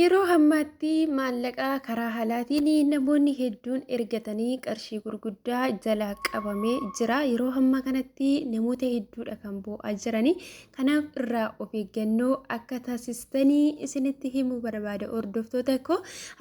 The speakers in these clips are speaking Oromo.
Yeroo ammaatti maallaqa karaa haalaatiin namoonni hedduun ergatanii qarshii gurguddaa jalaa qabamee jira. Yeroo ammaa kanatti namoota hedduudha kan boo'aa jiranii. Kanaaf irraa of eeggannoo akka taasistanii isinitti himuu barbaada hordoftoota koo.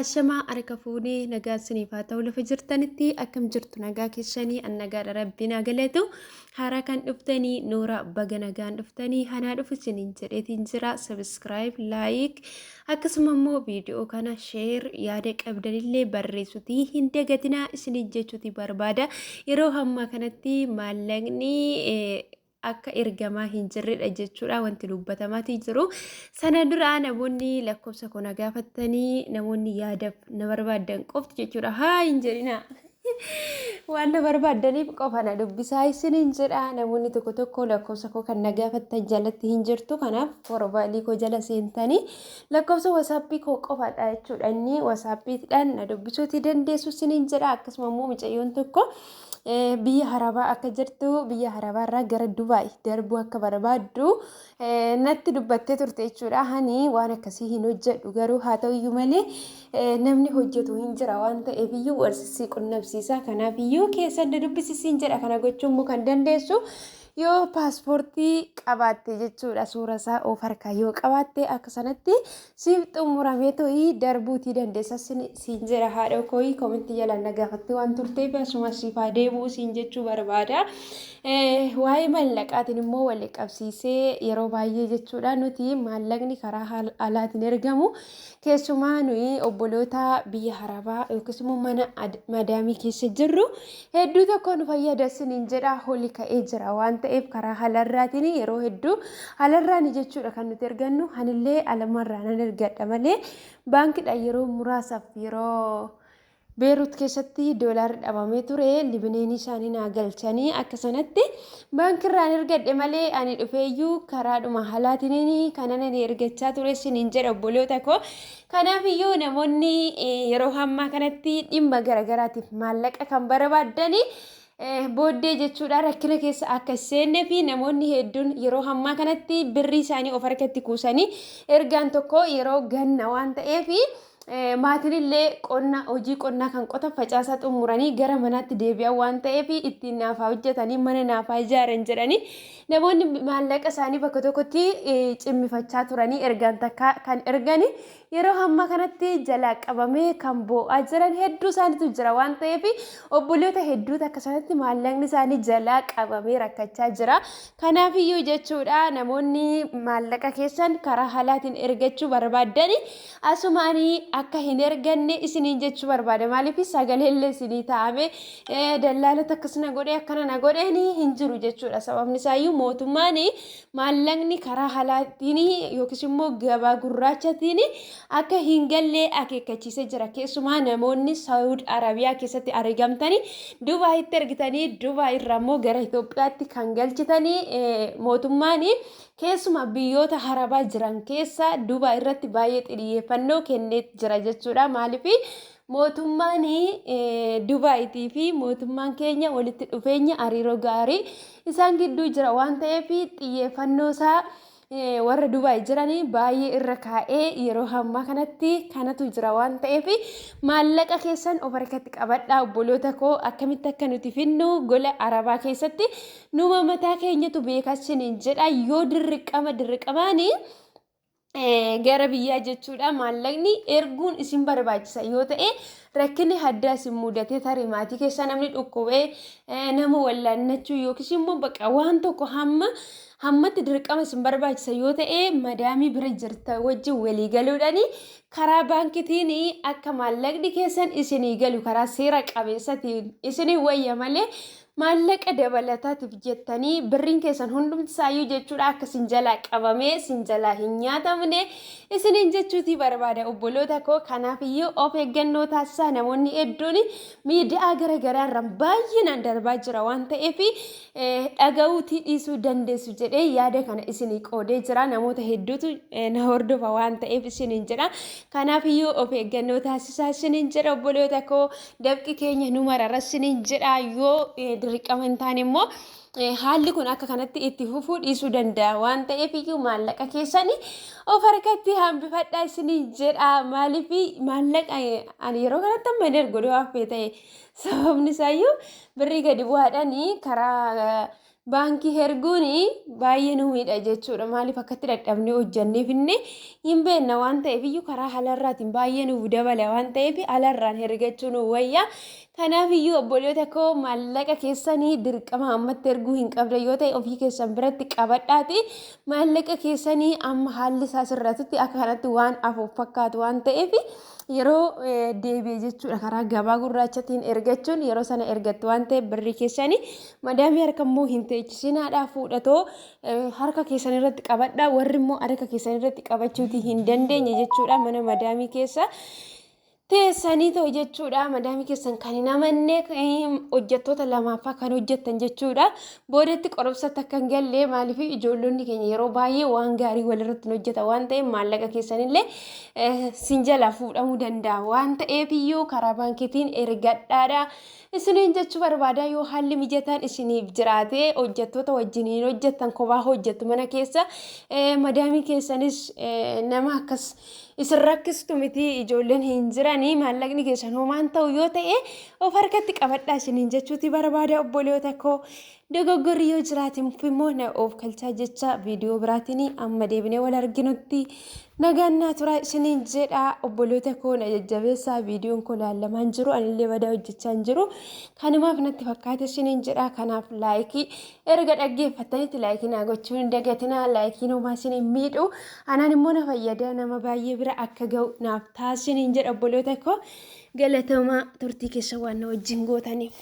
Ashamaa harka fuunee nagaa isiniif haa ta'u lafa jirtanitti akkam jirtu nagaa keessanii an nagaadha rabbiin haa galatu. Haaraa kan dhuftanii Noora baga nagaan dhuftanii hanaa dhufu isiniin jedheetiin jira sabiskiraayib laayik akkasuma immoo viidiyoo kana sheer yaada qabdanillee barreessutii hin dagatinaa isiniin jechuuti barbaada yeroo hammaa kanatti maallaqni akka ergamaa hin jirredha jechuudha wanti dubbatamaatii jiru sana duraa namoonni lakkoofsa koo na gaafattanii namoonni yaadaf na barbaadan qofti jechuudha haa hin jedhinaa. Waan na barbaaddaniif qofa na dubbisaa isiniin jedha. Namoonni tokko tokko lakkoofsa koo kan na gaafattan jalatti hin jirtu. Kanaaf porofaayilii koo jala seentanii lakkoofsa wasaappii koo qofaadha jechuudha. Inni wasaappiidhaan na dubbisuuti dandeessu isiniin jedha. Akkasuma immoo mucayyoon tokko biyya harabaa akka jirtu biyya harabaarraa gara Dubaay darbuu akka barbaaddu Natti dubbattee turte jechuudha. Ani waan akkasii hin hojjedhu garuu haa ta'u iyyuu malee namni hojjetu hin jira waan ta'eef iyyuu warsisii qunnamsiisa. Kanaaf iyyuu keessa adda dubbisisiin jedha kana gochuun immoo kan dandeessu yoo paaspoortii qabaatte jechuudha. Suura isaa of harkaa yoo qabaatte akka sanatti Siif xumuramee to'ii darbuutii dandeessa siin jira haadhoo kooyii komentii jalaan na gaafattee waan turteef asuma siif haa deebi'u siin jechuu barbaada. Waa'ee maallaqaatiin immoo wal qabsiisee yeroo baay'ee jechuudha nuti maallaqni karaa alaatiin ergamu keessumaa nuyi obboloota biyya harabaa yookiis immoo mana madaamii keessa jirru Hedduu tokko nu fayyada isiniin jedha holi ka'ee jira waan ta'eef karaa halarraatiin yeroo hedduu halarraani jechuudha kan nuti ergannu hanillee alamarraa nan ergadha malee baankidha yeroo muraasaaf yeroo beerut keessatti doolaarri dhabamee ture libineenii isaanii naa galchanii akka sanatti baankirraan ergadhe malee ani dhufeeyyuu karaadhuma halaatiin kanan ani ergachaa ture isiniin jedha obboloota koo Kanaaf iyyuu namoonni yeroo hammaa kanatti dhimma garaagaraatiif maallaqa kan barbaadan booddee jechuudha rakkina keessa akka seennee fi namoonni hedduun yeroo hammaa kanatti birrii isaanii of harkatti kuusanii ergaan tokko yeroo ganna waan ta'eef maatilillee qonna hojii qonnaa kan qota facaasaa xumuranii gara manaatti deebi'an waan ta'eef ittiin naafaa hojjetanii mana naafaa ijaaran jedhanii Namoonni maallaqa isaanii bakka tokkotti cimmifachaa turanii ergaan takka kan ergani yeroo hamma kanatti jalaa qabamee kan boo'aa jiran hedduu isaaniitu jira waan ta'eef obboloota hedduutu akka sanatti maallaqni isaanii jalaa qabamee rakkachaa jira. Kanaafiyyuu jechuudha namoonni maallaqa keessan karaa halaatiin ergachuu barbaaddani Asuma ani akka hin erganne isiniin jechuu barbaada. Maaliif sagaleellee isinii taa'ame dallaalota akkas na godhe akkana na godheen hin jiru jechuudha. Sababni isaayyuu mootummaan maallaqni karaa halaatiin yookiis immoo gabaa gurraachatiin akka hin gallee akeekkachiisee jira. Keessumaa namoonni Saawud Arabiyaa keessatti argamtanii Dubaayitti ergitanii Dubaayirraa immoo gara Itoophiyaatti kan galchitanii mootummaan Keessumaa biyyoota Harabaa jiran keessa Dubaay irratti baay'ee xiyyeeffannoo kennee jira jechuudha. Maaliif mootummaan Dubaayitii fi mootummaan keenya walitti dhufeenya hariiroo gaarii isaan gidduu jira waan ta'eef xiyyeeffannoo isaa warra Dubaay jiranii baay'ee irra kaa'ee yeroo hammaa kanatti kanatu jira waan ta'eef maallaqa keessan of harkatti qabadhaa obboloota koo akkamitti akka nuti finnu gola Arabaa keessatti Numa mataa keenyatu beekaa isiniin jedha yoo dirriqama dirriqamaani gara biyyaa jechuudha maallaqni erguun isin barbaachisa yoo ta'e rakkinni haddaa isin mudatee tarii maatii keessaa namni dhukkubee nama wallaannachuu yookiis immoo bakka waan tokko hamma hammatti dirqama isin barbaachisa yoo ta'e madaamii bira jirta wajjin walii galuudhaani karaa baankitiin akka maallaqni keessan isinii galu karaa seera qabeessatiin isinii wayya malee Maallaqa dabalataatiif jettanii birriin keessan hundumti isaayyuu jechuudha akka sin jalaa qabamee sin jalaa hin nyaatamne isiniin jechuutii barbaada obboloota koo kanaaf iyyuu of eeggannoo taasisaa namoonni hedduun miidiyaa gara garaarraan baay'inaan darbaa jira waan ta'eef dhaga'uutii dhiisuu dandeessu jedhee yaada kana isinii qoodee jira namoota hedduutu na hordofa waan ta'eef isiniin jedha kanaaf iyyuu of eeggannoo taasisaa isiniin jedha obboloota koo dafqi keenya nu marara sinin jedha yoo dirqama hin taane immoo haalli kun akka kanatti itti fufuu dhiisuu danda'a waan ta'eef iyyuu maallaqa keessanii of harkatti hambifadhaa isiniin jedha maaliif maallaqa ani yeroo kanatti amma hin ergu yoo haffee ta'e sababni isaayyuu birrii gadi bu'aadhaan karaa baankii herguun baay'ee nu miidha jechuudha maaliif akkatti dadhabnee hojjannee finne hin beenna waan ta'eef iyyuu karaa halarraatiin baay'ee nuuf dabala waan ta'eef halarraan hergachuu nu wayya kanaaf iyyuu obboloota koo maallaqa keessanii dirqama ammatti erguu hin qabda yoo ta'e ofii keessan biratti qabadhaati maallaqa keessanii amma haalli isaa sirratutti akka kanatti waan afuuf fakkaatu waan ta'eef yeroo deebi'e jechuudha karaa gabaa gurraachatiin ergachuun yeroo sana ergattu waan ta'eef birrii keessani madaamii harka immoo hin teechisiinaadhaa fuudhatoo harka keessan irratti qabadhaa warri immoo harka keessan irratti qabachuuti hin dandeenye jechuudha mana madaamii keessa teessanii ta'u jechuudha madaamii keessan kan hin amanne hojjettoota lamaafaa kan hojjettan jechuudha Boodatti qorumsatti akka hin galle maaliif ijoollonni keenya yeroo baay'ee waan gaarii walirratti hin hojjetan waan ta'eef maallaqa keessanillee eh, sin jalaa fuudhamuu danda'a waan ta'eef iyyuu karaa baankiitiin ergadhaadha. Isiniin jechuu barbaada yoo haalli mijataan isiniif jiraate hojjettoota wajjiniin hojjettan kophaa hojjettu mana keessa eh, madaamii keessanis eh, nama akkas isin rakkistu miti ijoolleen hin jiranii maallaqni keessan homaan ta'u yoo ta'e of harkatti qabadhaa isiniin jechuuti barbaada obboleewota koo dogoggorri yoo jiraatin immoo na of kalchaa jecha viidiyoo biraatiin amma deebinee wal arginutti nagaan naa turaa isiniin jedha obboleewota koo na jajjabeessaa viidiyoon koo laallamaan jiru anillee badaa hojjechaa hin jiru kanumaaf natti fakkaate isiniin jedha kanaaf laayikii Erga dhaggeeffattanitti laayikii naa gochuu hin dagatinaa laayikiin homaa isin hin miidhu anaan immoo na fayyada nama baay'ee bira akka ga'u naaf taasisin hin jedha obboloota koo galatoomaa turtii keessa waan na wajjin gootaniif.